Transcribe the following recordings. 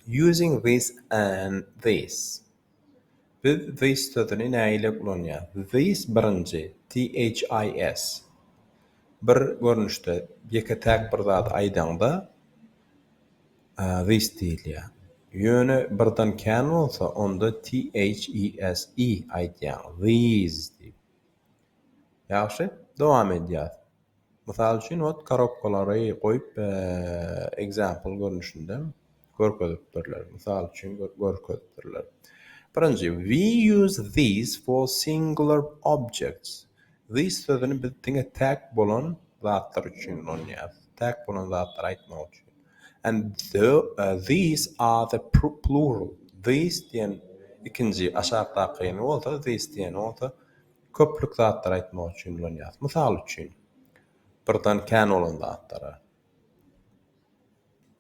Using this and this. Biz this sözüni nägile ulanýarys? This birinji, THIS. Bir görnüşde, ýeke-täk bir zady aýdaňda this diýilýär. Ýöne birden kän bolsa, onda THESE aýdýaň, these diýip. Ýagşy, dowam edýäris. Mysal üçin ot korobkalary goýup example görnüşinde görkezipdirler. Mysal üçin görkezipdirler. Birinji we use these for singular objects. These sözüni biz diňe täk bolan zatlar üçin ulanýarys. Täk bolan zatlary aýtmak üçin. And the, uh, these are the plural. These diýen ikinji aşakdaky bolsa these diýen bolsa Köplük zatlary aýtmak üçin ulanýarys. Mysal üçin, birden kän bolan zatlara.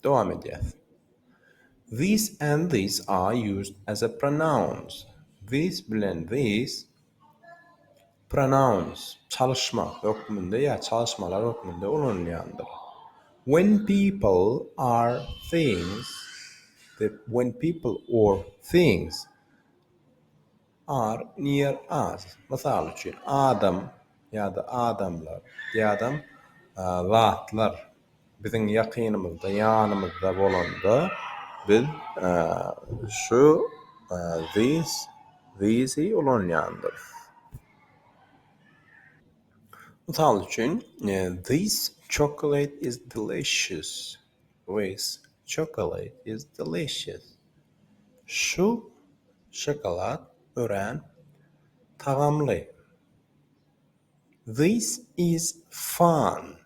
Dowam edýäs. These and these are used as a pronouns. These bilen these pronouns, çalyşma hökmünde ýa çalyşmalar hökmünde ulanylýandyr. When people are things, when people or things Are, near us, mysal üçin, adam ýa-da adamlar ýa-dam zatlar biziň ýakynymyzda, ýanymyzda bolanda, biz şu, this, these-i ulanýandyrys. Mysal üçin, this chocolate is delicious. With chocolate is delicious. Şu şokolad örän tagamly. This is fun.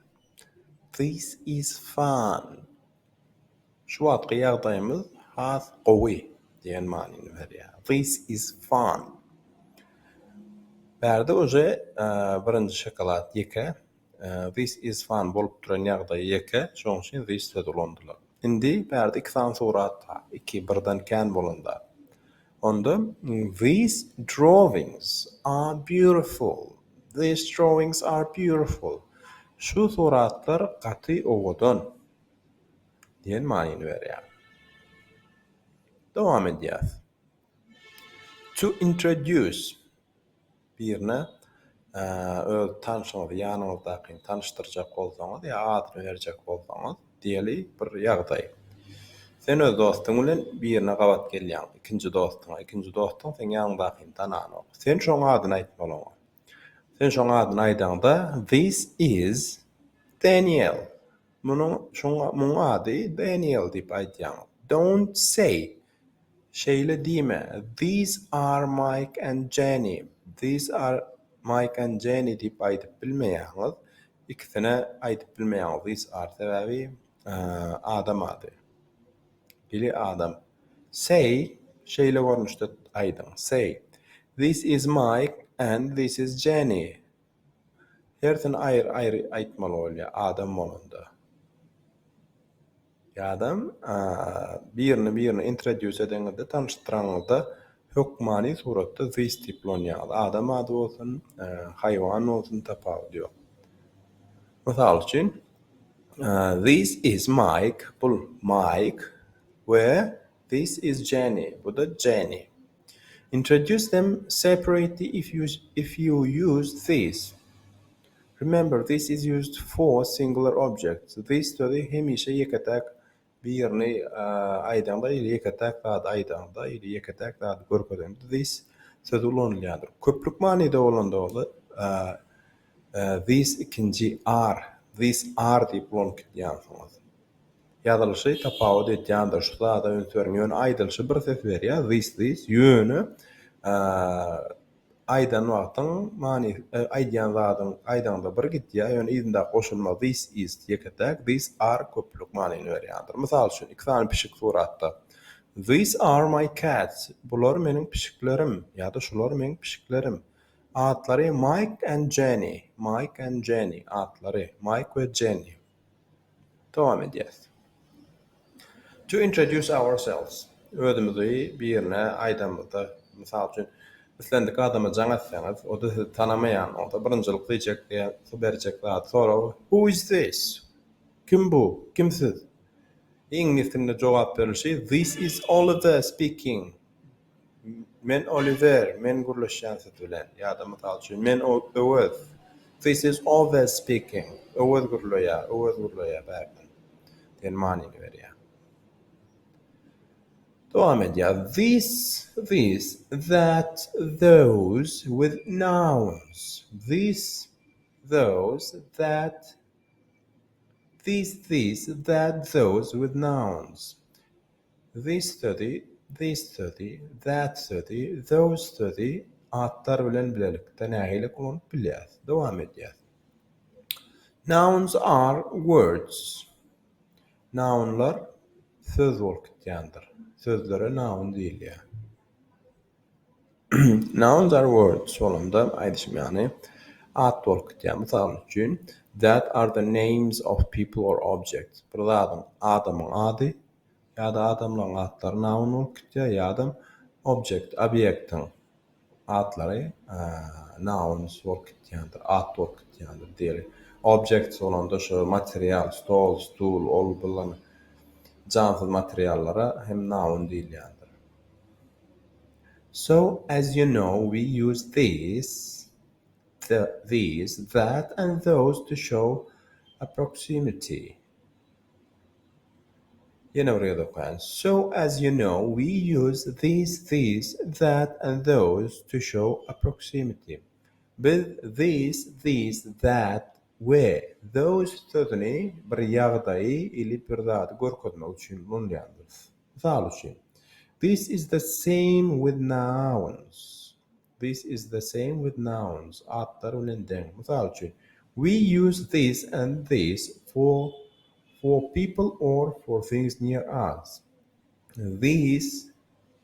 This is fun. Şu wagtky ýagdaýymyz has gowy diýen manyny berýär. This is fun. Bärde uje birinji şokolad ýeke This is fun bolup duran ýagdaýy ýeke, şoň üçin this sözi ulandylar. Indi bärde iki sany surat bar, iki, birden kän bolan zat. Onda These drawings are beautiful, These drawings are beautiful. Şu suratlar gaty owadan diýen manyny berýär. Dowam edýäs. To introduce. birine öz tanşyňyzy, ýanyňyzdakyny tanyşdyrjak bolsaňyz ýa adyny berjek bolsaňyz, diýeli bir ýagdaý. Sen öz dostuň bilen birine gabat gelýäň, ikinji dostuňa. Ikinji dostuň seň ýanyňdakyny tananok. Sen şoň adyny aýtmaly oňa. Sen şoň adyny aýdaňda, This is Daniel. Munuň, şoň, muň ady Daniel diýip aýdýaň. Don't say, Şeýle diýme, These are Mike and Jenny, These are Mike and Jenny diýip aýdyp bilmeýäňiz. Ikisine aýdyp bilmeýäňiz these are sebäbi adam ady. Biri adam. Say, şeýle görnüşde aýdyň, Say, This is Mike and this is Jenny. Hersini aýry-aýry aýtmaly bolýar adam bolanda. Ýa-dam, birini birine introduce edeňizde, tanyşdyranyňyzda hökmany suratda this tip lon ýaly, adam ady bolsun, haýwan bolsun tapawudy ýok. Mysal üçin, this is Mike, bul Mike we this is Jenny, bu-da Jenny. Introduce them separately if you if you use these. Remember this is used for singular objects. This sözi hemişe ýeke-täk birini aýdaňda ýa-da ýeke-täk zady aýdaňda ýa-da ýeke-täk zady görkezeňde this sözi ulanylýandyr. Köplük manyda bolanda bolsa this ikinji are, these are diýip ulanyp gidýänsiňiz. Ýazylyşy tapawut edýändir şu zada üns beriň ýöne aýdylyşy bir ses berýär this this ýöne aýdan wagtyň manysy aýdýan zadyň aýdaňda bir gidýär ýöne yzyndaky goşulma this is ýeke täk these are köplük manyny berýändir mysal üçin iki sany pişik suratda these are my cats bular meniň pişiklerim ýa-da şular meň pişiklerim atlary Mike and Jenny Mike and Jenny atlary Mike we Jenny Dowam edýäs. To introduce ourselves, özümizi birine aýdamyzda, mysal üçin, islendik adama jaň etseňiz, o-da sizi tanamaýan bolsa, birinjilik diýjek berjek zady, soragy, Who is this? Kim bu? Kim siz? Iňlis dilinde jogap berilişi, This is Oliver speaking. Men Oliwer, men gürleşýän siz bilen. Ýa-da, mysal üçin, men Öwez, This is Owez speaking. Öwez gürleýär, Öwez gürleýär bärden. Diýen manyny berýär. Dowam edýär. This, this, that, those with nouns. This, those, that, this, this, that, those with nouns. This sözi, these sözi, that sözi, those sözi atlar bilen bilelikde nähili ulanyp bilýäris? Dowam edýäs. Nouns are words. Nounlar söz bolup gitýändir. Sözlere noun diýilýär. Nouns are words bolanda aýdyşym ýaly at bolup gitýär. Mysal üçin, that are the names of people or objects. Bir zadyň, adamyň ady, ýa-da adamlaryň atlary noun bolup gitýär ýa-da object, obýektiň atlary nouns bolup gitýändir, at bolup gitýändir diýeli. Objects bolanda şu material, stol, stul, ol bulan jansyz materiallara hem noun diýilýändir. So, as you know, we use this, the, these, that and those to show a proximity. Ýene bir ýerde okaýan. So as you know we use these, these, that and those to show a proximity. Biz these, these, that we those sözüni bir ýagdaýy ili bir zady görkezmek üçin ulanýarys. Mysal üçin, This is the same with nouns. This is the same with nouns, atlar bilen deň. Mysal üçin, We use this and this for for people or for things near us. These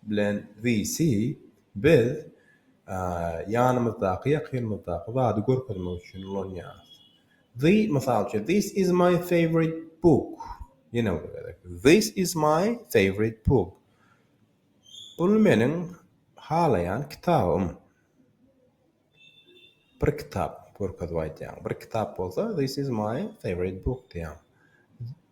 bilen these-i biz ýanymyzdaky, ýakynymyzdaky zady görkezmek üçin ulanýarys. The, mysal üçin, This is my favorite book. Ýene bir gezek, This is my favorite book. Bul meniň halaýan kitabym. Bir kitap görkezip aýdýaň. Bir kitap bolsa this is my favorite book diýýäň.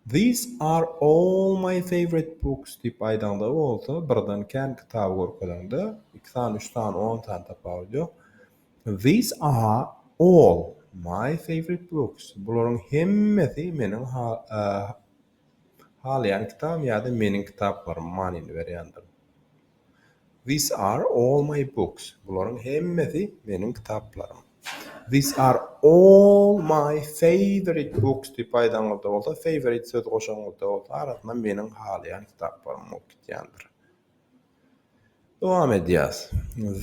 These are all my favorite books diýip aýdaňda bolsa birden kän kitaby görkezeňde iki sany üç sany on sany tapawudy ýok. These are all my favorite books bularyň hemmesi meniň Halaýan kitabym ýa-da meniň kitaplaryma manyny berýändir. These are all my books. Bularyň hemmesi meniň kitaplarym. These are all my favorite books diýip aýdaňyzda bolsa, favorite sözi goşanyňyzda bolsa, arasyna meniň halaýan kitaplarym bolup gitýändir. Dowam edýäs.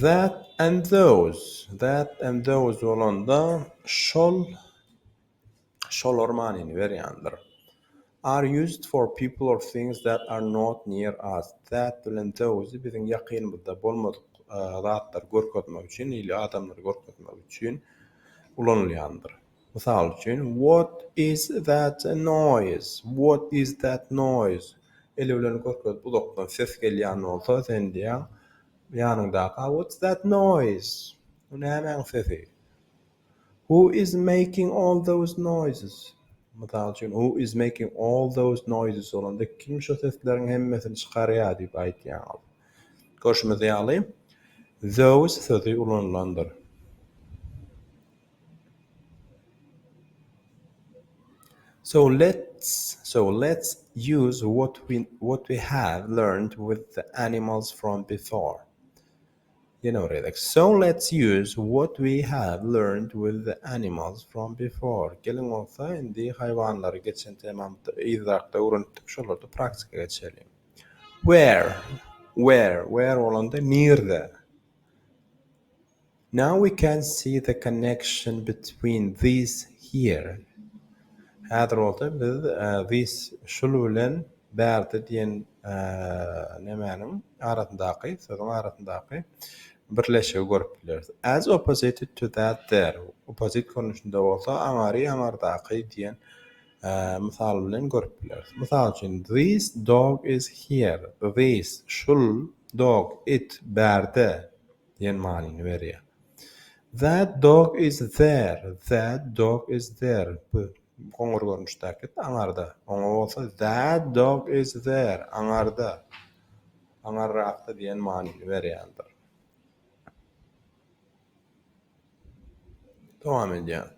That and those. That and those bolanda şol şolar manyny berýändir. Are used for people or things that are not near us. That bilen those biziň ýakynymyzda bolmadyk zatlary görkezmek üçin ili adamlary görkezmek üçin ulanylýandyr. Mysal üçin, What is that noise? What is that noise? Eli bilen görkezip uzakdan ses gelýän bolsa, sen diýýäň ýanyňdaky, What's that noise? Bu nämäň sesi? Who is making all those noises? Mysal üçin, Who is making all those noises? bolanda, kim şo sesleriň hemmesini çykarýar diýip aýdýaňyz. Görşümiz ýaly, those sözi ulanylandyr. So let's so let's use what we what we have learned with the animals from before. So let's use what we have learned with the animals from before. Geliň bolsa indi haýwanlary geçen temamyzda yzrakda öwrenipdik şolary praktika geçireliň. Where, where, where bolanda nirde. Now we can see the connection between these here. Häzir bolsa biz these şul bilen Bärde diýen nemäniň arasyndaky, sözüň arasyndaky birleşigi görüp bileris. As opposite to that there, opposite görnüşinde bolsa aňary aňardaky diýen mysal bilen görüp bileris. Mysal üçin, this dog is here, this, şul, dog, it, bärde diýen manyny berýär. That dog is there, that dog is there, bu, Goňur görnüşdäki, aňarda. Oňa bolsa That dog is there, aňarda, aňarrakda diýen manyny berýändir. Dowam edýän.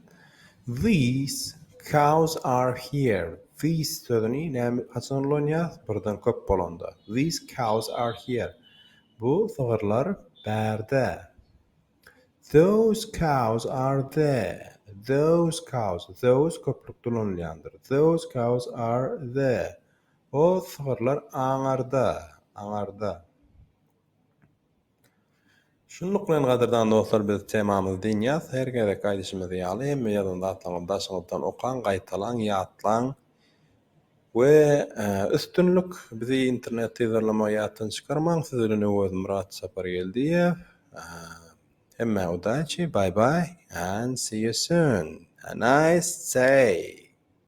These cows are here. These sözüni näme haçan ulanýas? Birden köp bolanda. These cows are here. Bu sygyrlar bärde. Those cows are there. Those cows, those köplük dolanylýandyr. Those cows are there. O sygyrlar aňarda, aňarda. Şunluk bilen gadyrdan dostlar biz temamyzy dynýas. Her gezekki aýdyşymyz ýaly hemme ýazan zatlaryňyzy daşyňyzdan okaň, gaýtalaň, ýatlaň. We üstünlik bizi internet yzarlamagy ýatdan çykarmaň siz bilen Öwezmyrat Sapargeldiýew hemmä udaçi bye bye and see you soon a nice day.